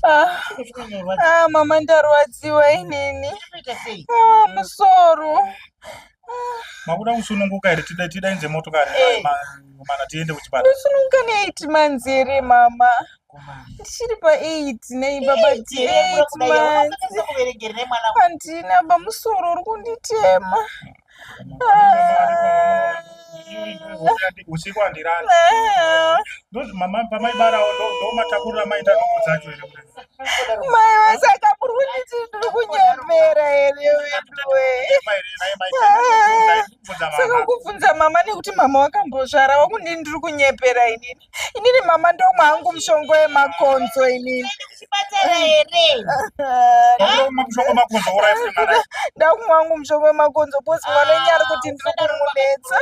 Ah, mama ndarwadziwa inini ah, musoro makuda kusununguka here tida tidainze motokari eh. mana tiende kuchipatara kusununguka ne8 months here mama ndichiri pa8 nei baba ti8 months handina bamusoro uri kunditema usiku handirani ndozi mama pamaibarawo ndomatakurira maita noko dzacho here mai vasaka muri kunditi ndiri kunyembera here weduwe saka kubvunza mama nekuti mama wakambozvara wakundini ndiri kunyepera inini inini mama ndomwa hangu mushongo wemakonzo inini ndakumwa hangu mushongo wemakonzo bcoz mwana enye ari kuti ndiri kumunetsa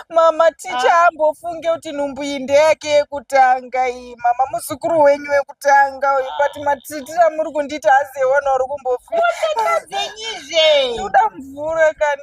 mama ticha ambofunge kuti nhumbu iyi ndeyake yekutanga iyi mama muzukuru wenyu wekutanga uyu but matitira muri kundiita hazewana uri kumbofuuda mvura kani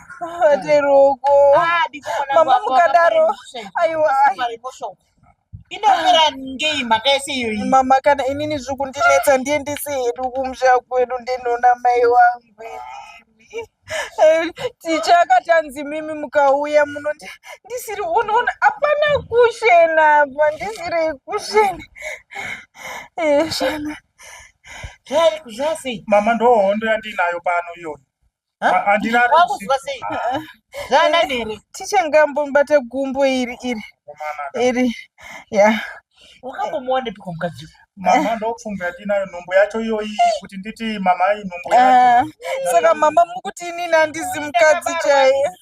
Teruko. Ah, Mama mukadaro. Aiwa. Inopera ngei mhaka yese iyoyi. Mama kana inini zviri kundinetsa ndiye ndisi hedu kumusha kwedu ndinoona mai wangu. Ticha akatanzi mimi mukauya muno ndisiri unoona hapana kushena apa ndisiri kushena. Eh, shana. Mama ndohondo yandinayo pano iyoyi. wakuziva sei zvaanani here tichangambobata gumbo iri iri iri ya wakambomuwanepiko mukadzi mama ndofunga yatinayo nhumbu yacho iyoyi kuti nditi mama inhumbu ah, saka mama mukuti inini handizi mukadzi chaiye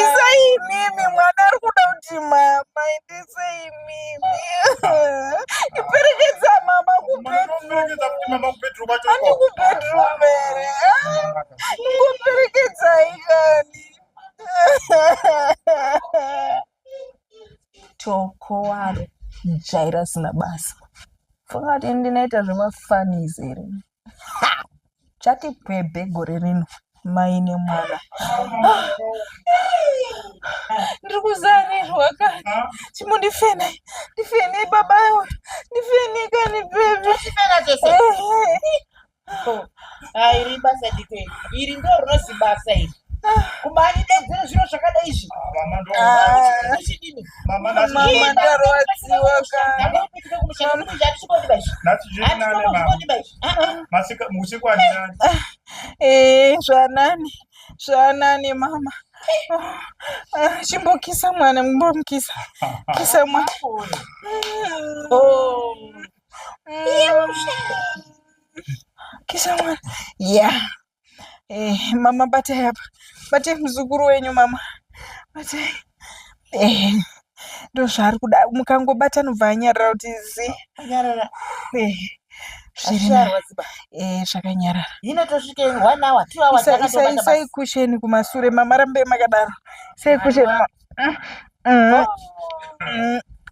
isai imimi mwana ari kuda kuti mama endesei imimi iperekedza mama kubedrumani kubedrum ere ingoperekedzai kani toko waro jaira sina basa fungati ndinoita zvemafanis here chati pwebhe gore rino mai nemwana ndiri kuzarirwa kani chimundifene ndifene baba ndifene kani bebe iri basa dikweni iri ndo rinozi basa iri kumanidedzere zviro zvakadai izvi zvanani zvanani mama chimbokisa mwana mbomukisa kisa mwana kisa mwana ya eh, mama batai apa batai muzukuru wenyu mama batai eh, ndozvaari kuda mukangobata anobva anyarara kuti zi anyarara eh. Eh, zvakanyarara isai kusheni kumasure mama rambe makadaro isai kusheni mm, mm, mm.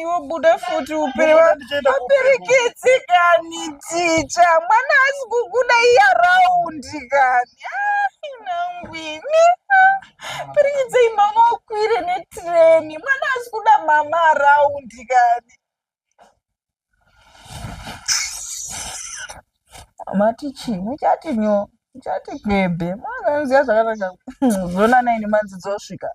iwo buda futi uperekedzi kani ticha mwana asi kukuda iya raundi kani nangwini perekedzei mama ukwire netreni mwana asi kuda mama araundi kani mati chii muchati nyo muchati kwebe mwana anoziva zvakanaka zonanai nemanzi dzosvika